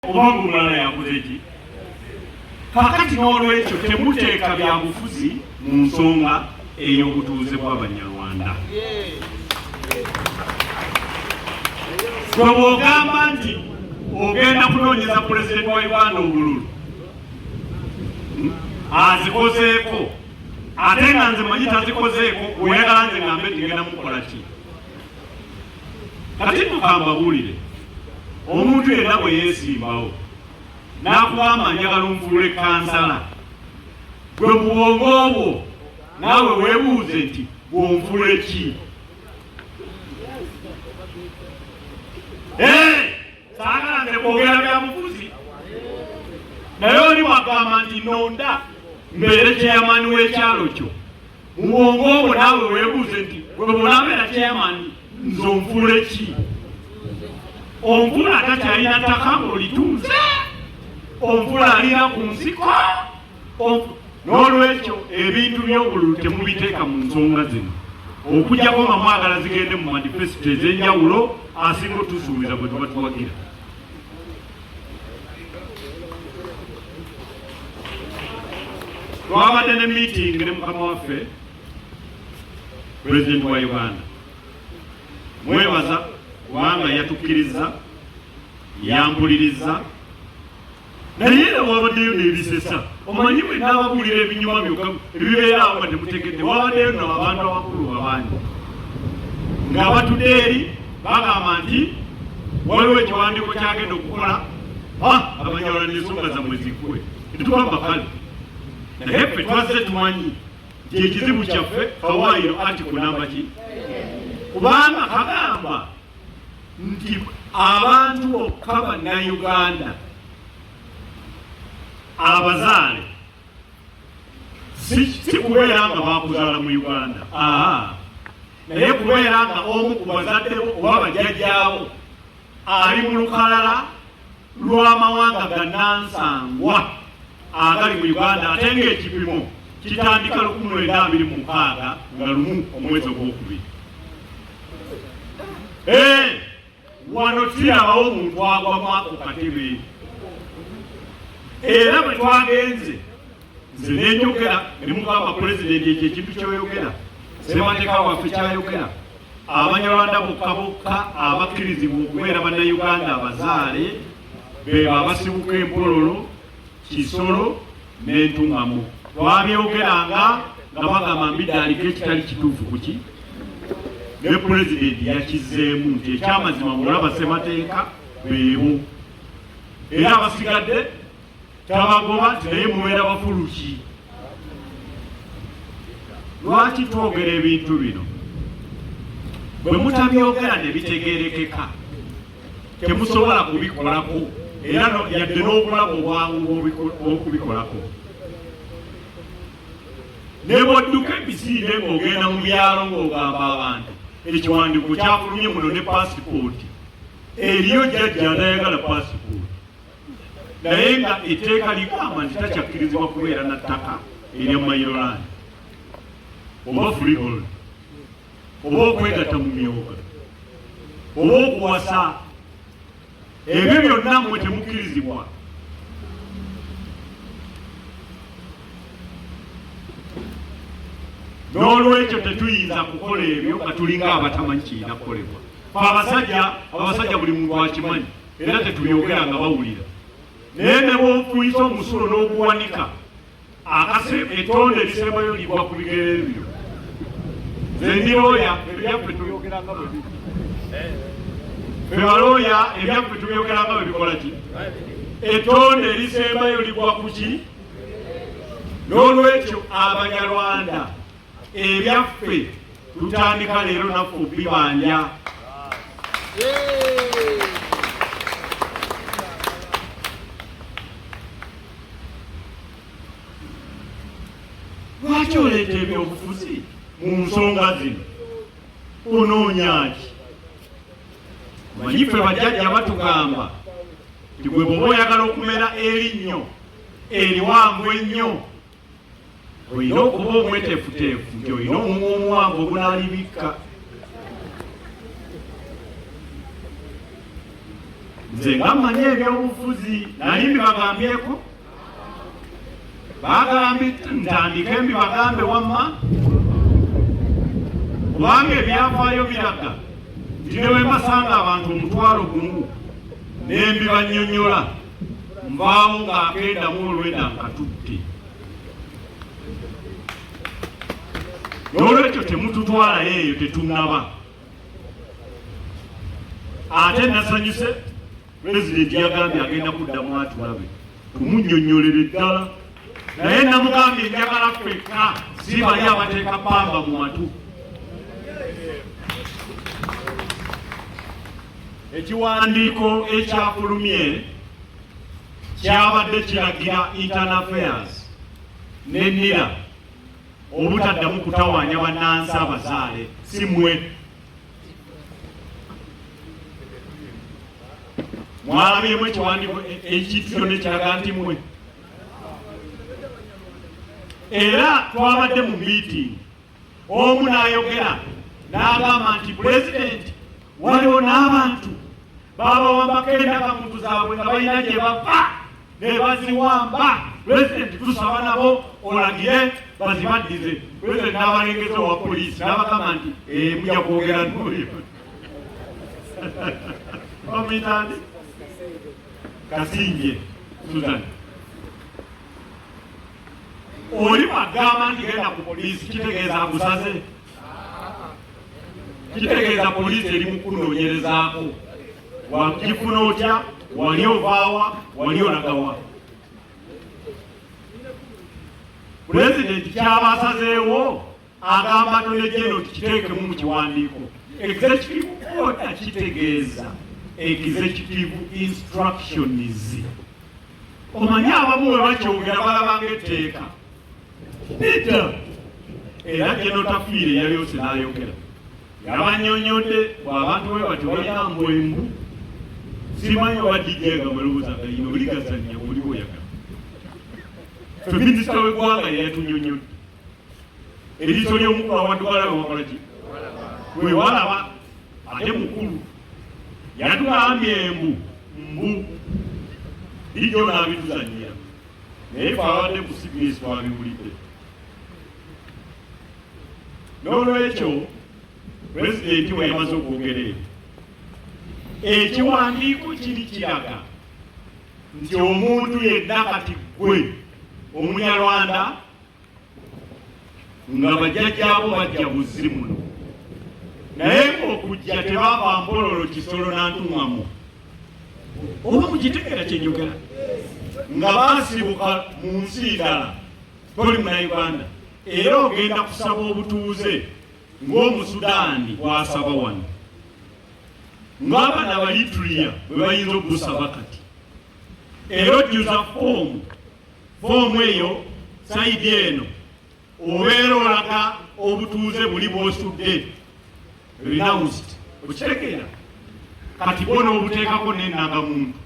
oba ng'omulala yakoze ki kakati n'olwekyo temuteeka byabufuzi mu nsonga ey'obutuuze bw'abanyarwanda gwe bw'ogamba nti ogenda kunoonyeza pulezidenti wa uganda obululu hmm? azikozeeko ate nga nze manyi tazikozeeko oyagala nze ngambe nti ngenda mukola ki kati mukambabulire omuntu yenna bwe yeesimbawo n'akugamba njagala onfuule kansala gwe mu bwongo obwo naawe weebuuze nti bwonfuule ki saagala nze kwogera bya mufuzi naye oli wagamba nti nonda mbeere kyeyamani w'ekyalo kyo mu bwongo obwo naawe weebuuze nti gwe bw'onabeera kyeyamani nze onfuula eki onfuula atakyalina ttaka ng'olitunze onfuula alina ku nsiko n'olwekyo ebintu by'obululu temubiteeka mu nsonga zino okujjako nga mwagala zigende mu manifesito ez'enjawulo asinga otusuubiza bwe tuba tuwagira twabadde ne meeting ne mukama waffe president wa uganda mwebaza kubanga yatukkiriza yampuliriza naye era wabaddeyo nebisesa omanyi bwe nabagulira ebinyuma byokka ebibeera awo nga temutegedde wabaddeyo no abantu abakulu babangi nga batudde eri bagamba nti waliwo ekiwandiiko kyagenda okukola abanyawala nensonga zamwe ziggwe tetugamba kale naye ffe twazze tumanyi nti ekizibu kyaffe fawairo ati kunamba ki kubanga kagamba nti abantu bokka bannayuganda abazaale si kubeera nga bakuzaala mu uganda naye kubeera nga omu ku bazaddebo oba bajjajjaabo ali mu lukalala lw'amawanga gannansangwa agali mu uganda ate ng'ekipimo kitandika lukumi lwenda abiri mu mukaaga nga lumu omwezi ogwokubiri eh! wano tulabawo omuntu agwa mwako katebe era bwe twagenze nze nenjogera ne mugamba pulezidenti ekyo ekintu kyoyogera ssemateka waffe kyayogera abanyarwanda bokka bokka abakkirizibwa okubeera bannayuganda abazaale bebo abasibuka empololo kisolo n'entuŋŋamu twabyogeranga nga bagamba mbidde aliko ekitali kituufu kuki ne pulezidenti yakizzeemu nti ekyamazima mulaba ssemateeka beebo era abasigadde tabagoba nti naye mubeera bafuluki lwaki twogera ebintu bino bwe mutabyogera ne bitegeerekeka temusobola kubikolako era yadde n'okulaba obwangu bwokubikolako ne bwodduka emisinde ng'ogenda mu byalo ng'ogamba abantu ekiwandiiko kyafulumye muno ne paasipooti eriyo jjajja anayagala paasipooti naye nga etteeka ligamba nti takyakkirizibwa kubeera na ttaka erya mayirolani oba freehold oba okwegatta mu myoga oba okuwasa ebyo byonna mmwe temukkirizibwa n'olwekyo tetuyinza kukola ebyo nga tulinga abatamanyi kirina kukolebwa fe abasajja abasajja buli muntu akimanyi era tetubyogera nga bawulira naye ne bwofuyisa omusulo n'oguwanika akase etonde ebisembayo ligwa ku bigere ebyo zendiroya ebyaffe tuyogeranga bwe biri fe balooya ebyaffe tuyogeranga bwe bikola ki etonde erisembayo ligwa ku ki n'olwekyo abanyarwanda ebyaffe tutandika leero naffe okubibanja lwaki oleeta ebyobufuzi mu nsonga zino onoonyaki manyi ffe bajjajja batugamba tigwe bwoba oyagala okumera erinnyo eriwanvu ennyo olina okuba omwetefuteefu nti olina omumwa omuwanvu ogunaalibikka nze nga mmanyi ebyobufuzi naye mbibagambyeko baagala ntandike mbibagambe wamma kubanga ebyafaayo biraga nti ne bwe mbasanga abantu omutwalo gumu ne mbibanyonyola nvaawo nga akendamu olwenda nkatutte nolwekyo temututwalayo eyo tetunaba ate nasanyuse pulezidenti yagambye agenda kuddamu atulabe kumunyonyolere ddala naye namugambye enjagala ffekka si bali abateeka pamba mu matu ekiwandiiko ekyafulumye kyabadde kiragira internal affairs ne nira obutaddamu kutawaanya bannansi abazaale si mwe mwalabyemu ekiwandiiko ekityo nekiraga nti mwe era twabadde mu miitingi omu n'ayogera n'agamba nti pulezidenti waliwo n'abantu babawambako endaka muntu zaabwe nga balina gye bava ne baziwamba pulezidenti tusaba nabo olagire bazibaddize pulezidenti n'abalengeza owa poliisi n'abagamba nti eh, muja kwogera noyo bamuyitandi Kasingye Susan oli agamba nti genda ku poliisi kitegeeza agusaze kitegeeza poliisi eri mu kunoonyerezaako wakifuna otya wali ovaawa wali olagawa pulezidenti kyaba asazeewo agamba nolejeno kiteekemu mu kiwandiiko executive order kitegeeza executive instructions omanyi abamu we bakyongera balabanga etteeka nidda era genotafiire yali ose n'ayogera yabanyonyodde bwabantu bwe batyo balina mbwembu simanyi oba dijega mulowooza galina oligazannya buli bwoyagala fe minisita w'eggwanga yeyatunyonyodde eriiso ly'omukulu awadde walaba wakola ki gwe walaba ate mukulu yatugambye embu mbu bijjo naabituzanyira naye twabadde ku cbs twabiwulidde n'olwekyo pulezidenti we yamaze okwogera ebyo ekiwandiiko kiri kiraga nti omuntu yenna kati ggwe omunyarwanda nga bajjajjaabo bajja buzzi muno naye ng'okujja tebaava mbololo kisolo nantuŋamu oba mukitegera kyenjogera nga baasibuka mu nsi ndala toli muna uganda era ogenda kusaba obutuuze ng'omusudaani bwasaba wano ng'abaana balitulia bwe bayinza okugusaba kati era ojjuza foomu Foomu eyo sayidi eno obeera olaga obutuuze buli bw'osudde renounced okitegeera kati bo n'obuteekako n'ennangamuntu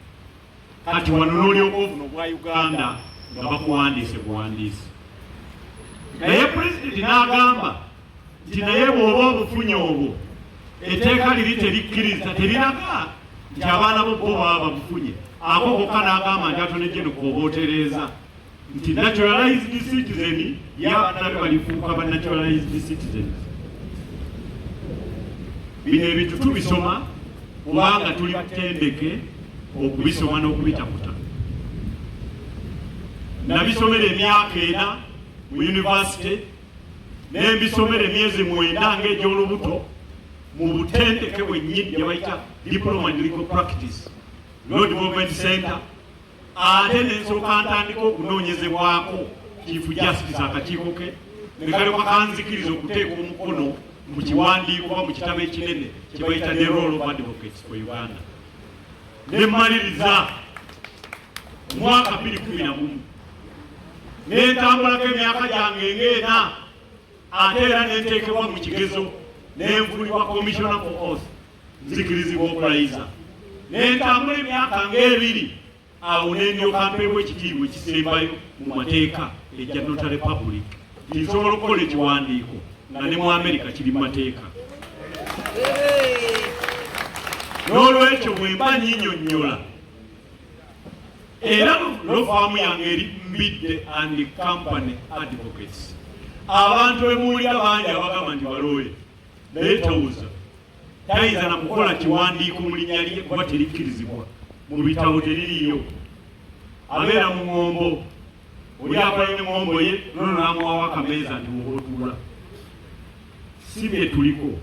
kati wano n'olyoka obuno bwa uganda nga bakuwandiise buwandiisi naye pulezidenti n'agamba nti naye bw'oba obufunye obwo etteeka liri terikkiriza teriraga nti abaana bo bo baba babufunye ako kokka n'agamba nti atonejje nokwoba otereeza nti naturalized citizen yabanana be balifuuka ba naturalized citizens bino ebintu tubisoma kubanga tuli batendeke okubisoma n'okubitakuta nabisomera emyaka ena mu yunivasite ne mbisomera emyezi mwenda ng'egy'olubuto mu butendeke bwennyini gye bayita diploma in legal practice law development center ate ne nsooka ntandika okunoonyezebwako chief justice akakiiko ke ne kalyoka kanzikiriza okuteeka omukono mu kiwandiiko oba mu kitabo ekinene kye bayita the role of advocates for uganda ne mmaliriza omwaka bibiri kumi na gumu nentambulako emyaka gyange ng'ena ate era nenteekebwa mu kigezo nenvulibwa komisiona ku os nzikirizibwa okulayiza nentambula emyaka ng'ebiri awo nendyoka mpeebwa ekitiibwa ekisembayo mu mateeka ejja nota republic tinsobola okukola ekiwandiiko nga ne mu amerika kiri mu mateeka n'olwekyo bwemba nyinyonyola era lofaamu yange eri mbidde and company advocates abantu bemuwulira bangi abagamba nti balooye naye tawuza tayinza na kukola kiwandiiko mu linnya lye kuba terikkirizibwa mu bitabo teririyo abeera mu ŋombo oli akola ne ŋombo ye nono namuwawo akameeza nti wootula si bye tuliko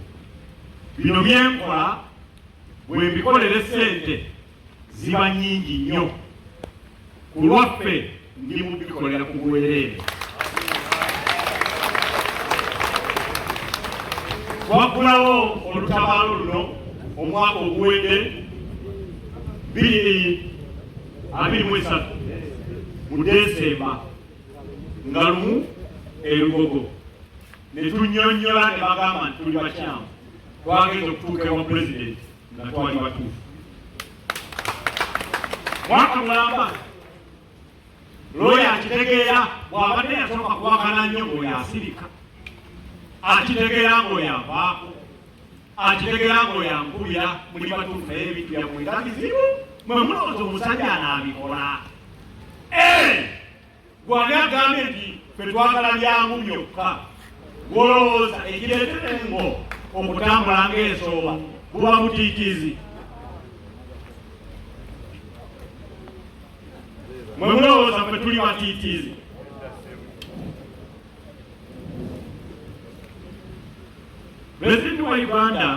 bino byenkola bwe mbikolere ssente ziba nyingi nnyo ku lwaffe ndi mu bikolera ku bwereere waggulawo olutabaalo luno omwaka oguwedde bibiri abiri mu esatu mu desemba nga lumu erugogo ne tunyonyola ne bagamba nti tuli bakyamu twagenza okutuuka ewa pulezidenti nga twali batuufu mwaka mulamba looya akitegeera bw'abadde yasooka kuwakana nnyo ng'oyo asirika akitegeera ng'oyo avaako akitegeera ng'oyo ankubira muli batuufu naye ebintu byammwe nga bizibu mwe mulowooza omusajja anaabikola Gwani agambye nti ffe twagala byangu byokka gwolowooza ekireetera engo okutambula ng'ensooba buba butiitiizi mwe mulowooza ffe tuli batiitiizi pulezidenti wa uganda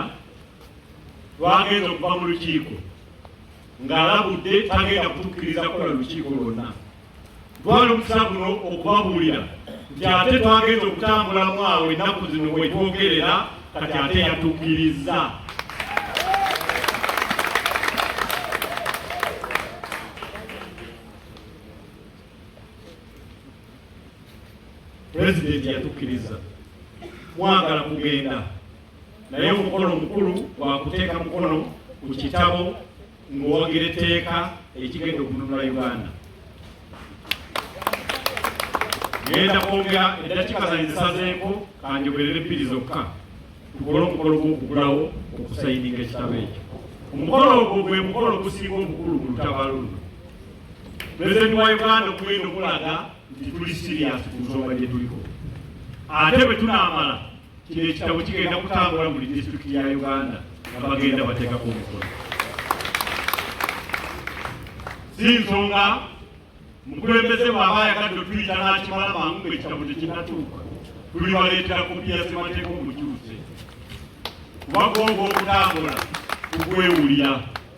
lwagenza okuva mu lukiiko ng'alabudde tagenda kutukkiriza kukola lukiiko lwonna Twali omukisa guno okubabuulira nti ate twagenza okutambulamu awo ennaku zino wetwogerera kati ate yatukirizza pulezidenti yatukkiriza mwagala kugenda naye omukolo omukulu wakuteeka mukono ku kitabo ng'owagira etteeka ekigenda okununula Uganda. Ngenda kwongera eddakiika zange zisazeeko kanjogerere bbiri zokka tukole omukolo gw'okugulawo okusayininga ekitabo ekyo. Omukolo ogwo gwe mukolo ogusinga obukulu mu lutabaalo luno. Pulezidenti wa Uganda okugenda okulaga nti tuli siriyaasi ku nsonga gye tuliko. Ate bwe tunaamala Kino ekitabo kigenda kutambula buli disitulikiti ya Uganda nga bagenda bateekako omukono. Si nsonga mukulembeze bw'aba ayagadde okuyita n'akimala mangu ng'ekitabo tekinnatuuka, tulibaleetera kopi ya ssemateeka omukyuse kuba gwongo okutambula kugwewulira.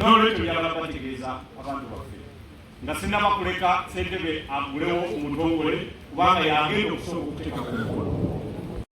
nolwekyo njagala kubategeeza abantu baffe nga sinaba kuleka sentebe agulewo omutongole kubanga yagenda okusobola okuteeka ku mukolo